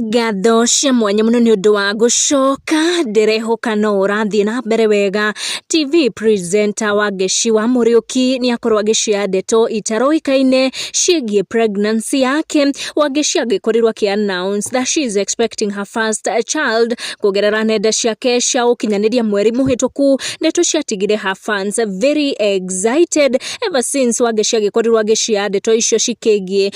Ngatho cia mwanya mũno nĩ ũndũ wa gũcoka, ndĩrehoka no ũrathiĩ na mbere wega. TV presenter wa Ngeshi wa Mũriũki nĩ akorwo agĩcioya ndeto itaroĩkaine ciĩgiĩ pregnancy yake. Wangeshi angĩkorirwo akĩ announce that she is expecting her first child kũgerera nenda ciake cia ũkinyanĩria mweri mũhĩtũku, ndeto ciatigire her fans very excited ever since Wangeshi agĩkorirwo agĩcioya ndeto icio cikĩgiĩ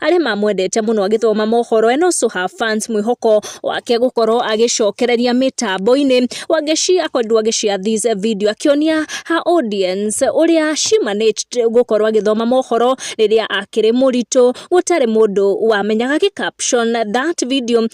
arĩa mamwendete mũno agĩthoma mohoro and also her fans mwĩhoko wake gũkorwo agĩcokereria mĩtambo-inĩ wangeshi akorirwo agĩshare this video akĩonia her audience ũrĩa she managed gũkorwo agĩthoma mohoro rĩrĩa akĩrĩ mũritũ gũtarĩ mũndũ wamenyaga gĩ caption that video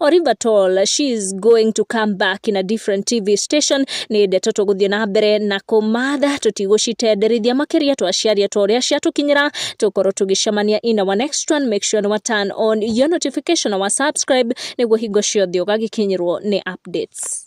or if at all she is going to come back in a different TV station nĩ ndeto tũgũthiĩ na mbere na kũmatha tũtigũcitenderithia makĩria twaciaria twa ũrĩa ciatũkinyĩra tũkorwo tũgĩcemania in our next one make sure wa turn on your notification wa subscribe nĩguo hingo ciothe ũgagĩkinyĩrwo nĩ updates